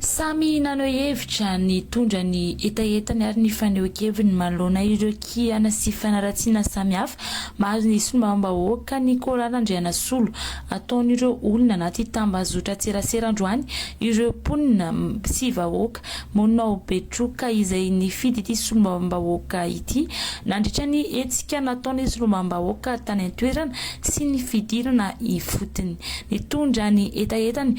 Samy naneho hevitra, nitondra ny hetahetany ary ny fanehoan-keviny manoloana ireo kiana sy fanaratsiana samihafa mahazo ny solombavambahoaka ny Kora Randrianasolo. Ataon'ireo olona anaty tambazotran-tserasera androany ireo mponina sy vahoaka monina ao Betroka izay nifidy ity solombavambahoaka ity nandritra ny hetsika nataon'ny solombavambahoaka tany an-toerana sy ny fidirana ifotony. Nitondra ny hetahetany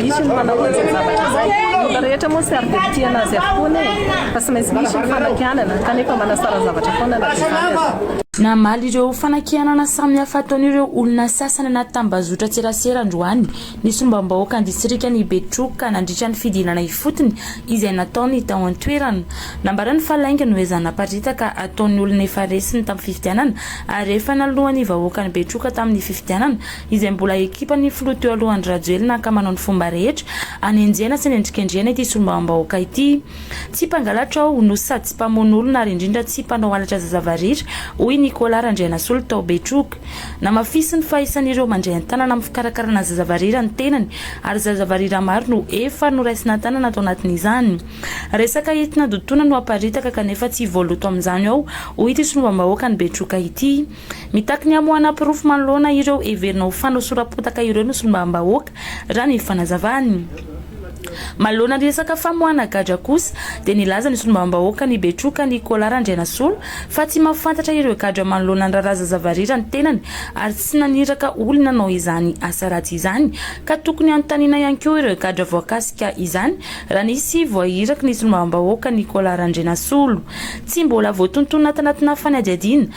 Misy ny manao an'izay zavatra izay. Ny olona rehetra moa tsy ary dia mpitia anazy avokoa anie e! Fa tsy maintsy misy ny fanakianana, kanefa manasara zavatra foana na dia izany aza. Namaly ireo fanakianana samihafa ataon'ireo olona sasany anaty tambazotran-tserasera androany ny sombam-bahoakan'ny distrikan'i Betroka nandritra ny fidinana ifotony izay nataony tao an-toerana. Nambarany fa lainga no ezahana haparitaka ataon'ny olona efa resy ny tamin'ny fifidianana ary efa naloan'ny vahoakan'i Betroka tamin'ny fifidianana izay mbola ekipan'ny filoha teo aloha Andry Rajoelina ka manao ny fomba rehetra hanenjehana sy hanendrikendrehana ity solombavambahoaka ity. Tsy mpangalatra aho no sady tsy mpamono olona ary indrindra tsy mpanao halatra zazavariry, hoy Nicolas Randrianasolo tao Betroka. Namafisiny fa isan'ireo mandray an-tanana amin'ny fikarakarana zazavariry ny tenany ary zazavariry maro no efa noraisina an-tanana tao anatin'izany. Resaka entina dodotona no aparitaka kanefa tsy voaloto amin'izany ao, hoy ity solombavambahoakan'i Betroka ity. Mitaky ny hamoahana porofo manoloana ireo heverina ho fanosoram-potaka ireo ny solombavambahoaka, raha ny fanazavany. Manoloana ny resaka famoahana gadra kosa, dia nilaza ny solombavambahoaka ny Betroka Nicolas Randrianasolo fa tsy mahafantatra ireo gadra manoloana ny raharaha Zazavarera ny tenany ary tsy naniraka olona hanao izany asa ratsy izany ka tokony hanontaniana ihany koa ireo gadra voakasika izany raha nisy voairaky ny solombavambahoaka Nicolas Randrianasolo tsy mbola voatontonina tanatina fanadihadiana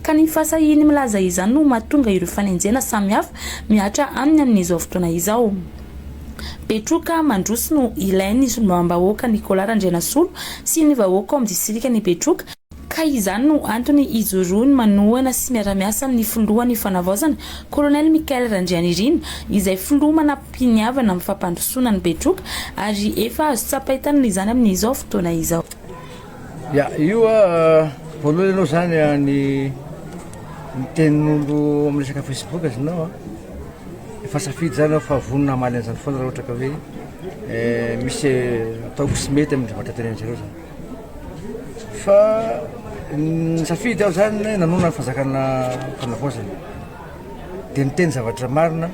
Ka ny fahasahiany milaza izany no mahatonga ireo fanenjehana samihafa mihatra aminy amin'izao fotoana izao. Betroka mandroso no ilain'ny solombavambahoaka Nicolas Randrianasolo sy ny vahoaka ao amin'ny distrikan'i Betroka, ka izany no antony hijoroany manohana sy miara-miasa amin'ny filohan'ny Fanavaozana, Colonel Michael Randrianirina, izay filoha manam-piniavana amin'ny fampandrosoana an'i Betroka, ary efa azo tsapain-tanana izany amin'izao fotoana izao. Ya, io voalohany aloha zany ny ny tenin'olo amin'ny resaka Facebook izy nao an, efa safidy zany aho fa vonona hamaly an'izany foana raha ohatra ka hoe misy ataoko tsy mety amin'ny zavatra tenenin'izareo zany. Fa nisafidy aho zany hoe nanonona ny fanjakana fanavaozana dia niteny zavatra marina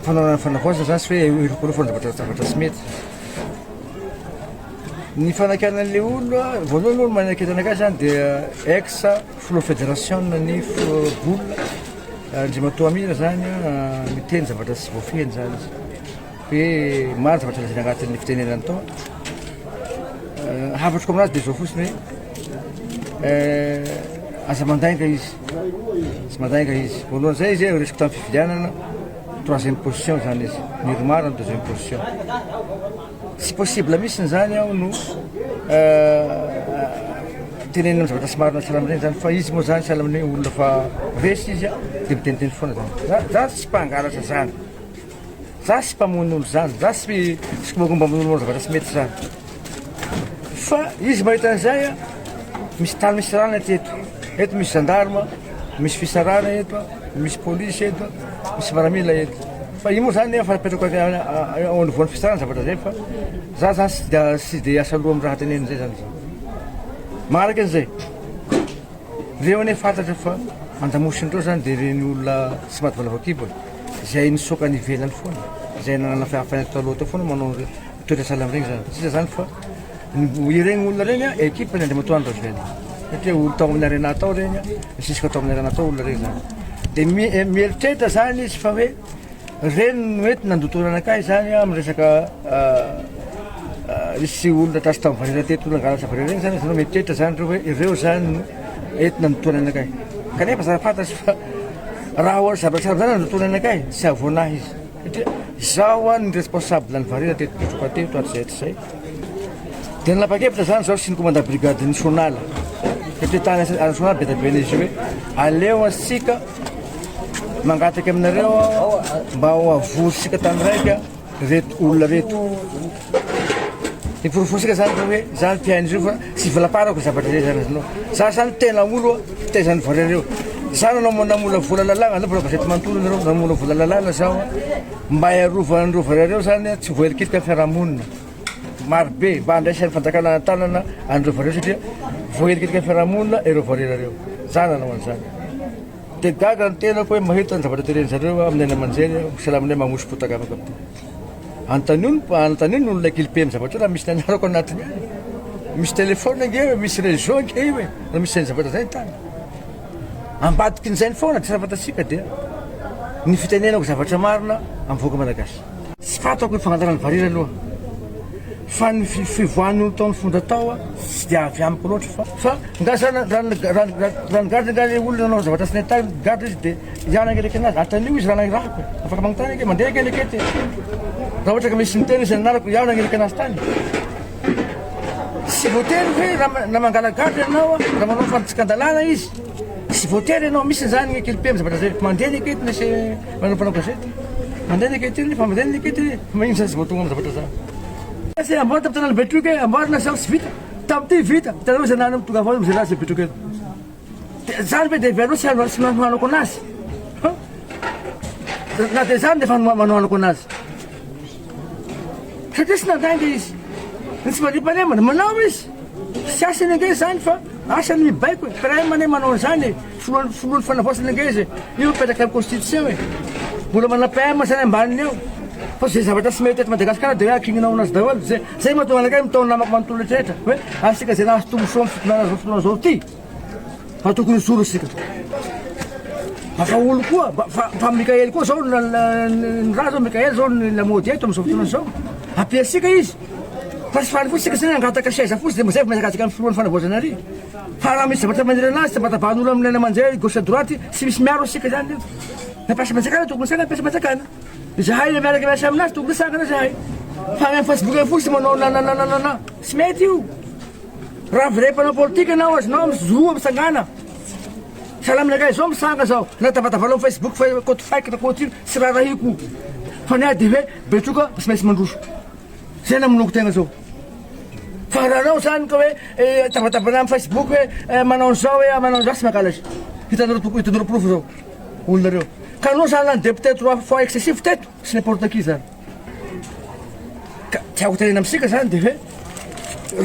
fanaovana ny fanavaozana zany tsy hoe hirokorofo amin'ny zavatra zavatra tsy mety. Ny fanakana an'ilay olona, voalohany aloha manakana anakah izany dia ex filoha federasiona ny bola, Andriamatoa Amina izany miteny zavatra tsy voafehiny izany izy. Hoe maro zavatra lazaina agnatin'ny fitenenany tao. Hafatro aminazy dia izao fotsiny hoe aza mandainga izy, tsy mandainga izy. Voalohany izay izy resiko tamin'ny fifidianana troisième position izany izy, niromara ny deuxième position. Tsy possible mihitsy zany aho no tenenina zavatra tsy marina sahala amin'ireny zany fa izy moa zany sahala amin'ny hoe olona fa resy izy a de miteniteny foana zany za za tsy mpangalatra zany za tsy mpamono olo zany za tsy tsy mombamomba amin'olo zavatra tsy mety zany fa izy mahita an'izay a misy tany misy rana aty eto eto misy gendarme misy fisarana eto misy polisy eto Misy miaramila eto. Fa io moa zany efa apetrako ao anolovoan'ny fisarana zavatra zay fa za zany tsy dia tsy dia asa loha amin'ny raha teneniny zay zany za. Maharaka an'izay. Reo anie fantatra fa an-damosiny reo zany dia ireny olona tsy maty valavao kibo e. Izay nisoka any ivelany foana, izay nanana fahefana taloha teo foana manao toetra sahala amin'iregny zany. Sisa zany fa Ireny olona ireny equipe ny Andriamatoa Andry Rajoelina satria olona tao amin'ny Arena tao ireny, nisisika tao amin'ny Arena tao olona ireny izany. Dia mieritreritra izany izy fa hoe ireny no ety nandoto anakay izany amin'ny resaka nisy olona trasy tamin'ny valera teto olona angala valera ireny izany izany mieritreritra izany ireo hoe ireo izany no ety nandoto anakay. Kanefa zara-fantatra fa raha zavatra saron'izany nandoto anakay, tsy hahavoana ahy izy. Satria izaho ho an'ny responsable ny varira teto Betroka teto hatrizay hatrizay dia nanapa-kevitra izany izaho sy ny commandant brigade ny Sonala satria tany any Sonala be dia be izy hoe aleo antsika mangataka aminareo aho mba ho avorisika tany raika reto olona reto Iporofointsika zany fa hoe za mpihaino izy io fa tsy volaparako zavatra rehetra azonao. Za zany tena olo fitaizan'ny vorenareo. Za nanao namola vola lalàna anareo mbola gazety manontolo anareo namola vola lalàna zaho mba hiarovan'ny vorenareo zany tsy voahelikilika ny fiarahamonina. Marobe mba andraisan'ny fanjakana an-tanana anareo vorenareo satria voahelikilika ny fiarahamonina ireo vorenareo. Za nanao an'izany. Dia gaga ny tenako hoe mahita ny zavatra tenenin-jareo amin'ny haino aman-jery, misalaminay magnoso-potaka afaka. Anontanio ny anontanio ny olona kely be amin'ny zavatra io raha misy ny anarako anatiny any. Misy téléphone ange io e, misy réseau ange io e, raha misy izany zavatra izany ny tany. Ambadikin'izay ny foana tsy raha fantatsika dia ny fitenenako zavatra marina amin'ny vahoaka malagasy. Tsy fantako ny fangalana ny vary ery aloha. Fa ny fivoahan' ny olon-tao nifondra tao tsy dia avy amiko loatra fa. Fa nga sa raha raha nigadra nga le olona nanao zavatra tsy nety taminy, gadra izy dia hiala hangeleke anazy? Antanio izy raha nahirahako e! Afaka magnontany ange, mandeha ange le kety e! Raha ohatra ka misy niteny izay nanarako ihaho nangeleke anazy tany? Tsy voatery hoe raha na mangala-gadra ianao a, raha manao fantsika an-dalàna izy, tsy voatery ianao misy izany ny ekipe, ny zavatra zay, mandeha ny ekety, ny ese. Manao mpanao gazety. Mandeha ny enquête iny, fa mandeha ny enquête iny. Magnino zany tsy voatonga amin'ny zavatra zany. Tsy amboary tamin'ny tanàna Betroka e, amboary na sao tsy vita. Tamin'ity vita, hitanareo izay nahanao mitondra avao amin'izay nahazo Betroka eto. Dia izany ve dia heveranao tsy hanao tsy hanohanako anazy? Ha? Na dia izany dia efa ma- manohanako anazy. Satria tsy nandainga izy. Ny tsy mandriam-pahalemana, manao izy. Tsy asany ange izany fa asany mibaiko e. Crème anie manao an'izany e. Finoan finoan fanavaozana ange izy io mipetraka am constitution e. Mbola manana PM zany ambaniny ao. Fa ze zavatra tsy mety eto Madagasikara de hoe akinina aonazy daholo. Ze zay mahatonga anakay mitaona namako manontolo rehetraretra hoe asika ze lasa tombontsoa am fitondrana zao fotoana zao ty fa tokony hijoro isika. Vahaolo koa fa fa Mikael koa zao na ny raha zao Mikael zao ny lamaody eto amzao fotoana zao. Apiasika izy. Fa tsy faly fotsika zany angataka seza fotsiny de mazay vao mihazakazaka am finoan fanavaozana ary. Fa raha misy zavatra manera anazy tsy vatavan'olo amin'ny laina aman-jery gauche à droite tsy misy miaro antsika izany io. Na mpiasa mpanjakana tokony hisangana mpiasa mpanjakana. Izahay ilay miaraka miasa aminazy tokony hisangana izahay. Fa any amin'ny Facebook any fotsiny manao nananananana. Tsy mety io. Raha vrai mpanao politika anao azonao mizoa misangana. Sahala aminakay izao misanga izao na tavatavanao amin'ny Facebook fa compte fake na compte ino tsy raharahiako. Fa ny ahy dia hoe betroka tsy maintsy mandroso. Izay namonoako tegna izao. Fa raha anao zany ka hoe tabatabana am facebook hoe manao an'izao hoe manao an'izao tsy mangalatra. Hitanareo hitanareo porofo zao olona reo. Ka anao zany lany député trois fois excessif teto tsy n'importe qui zany. Ka tiako tenena amintsika zany de hoe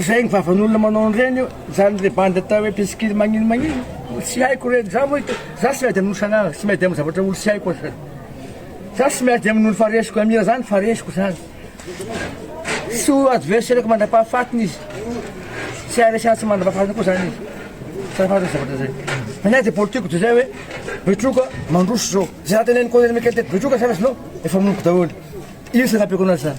zay ny vavan'olona manao an'ireny io zany le bandy atao hoe mpisikily magnino magnino tsy haiko reny za moa za tsy miady amin'olo san'ala tsy miady amin'ny zavatra olo tsy haiko aza. Za tsy miady amin'olo fa resiko amira zany fa resiko zany. Tsy ho adversaire-ko mandra-pahafatiny izy. Tsy haharesy ahy tsy mandra-pahafatiny koa izany izy. Tsara fantatra izay zavatra izay. Ny ahy dia politiko dia izay hoe Betroka mandroso izao. Izay raha tenenin'i Colonel Michael teto Betroka zany azonao efa moniko daholo. Io izay nampiako anazy izany.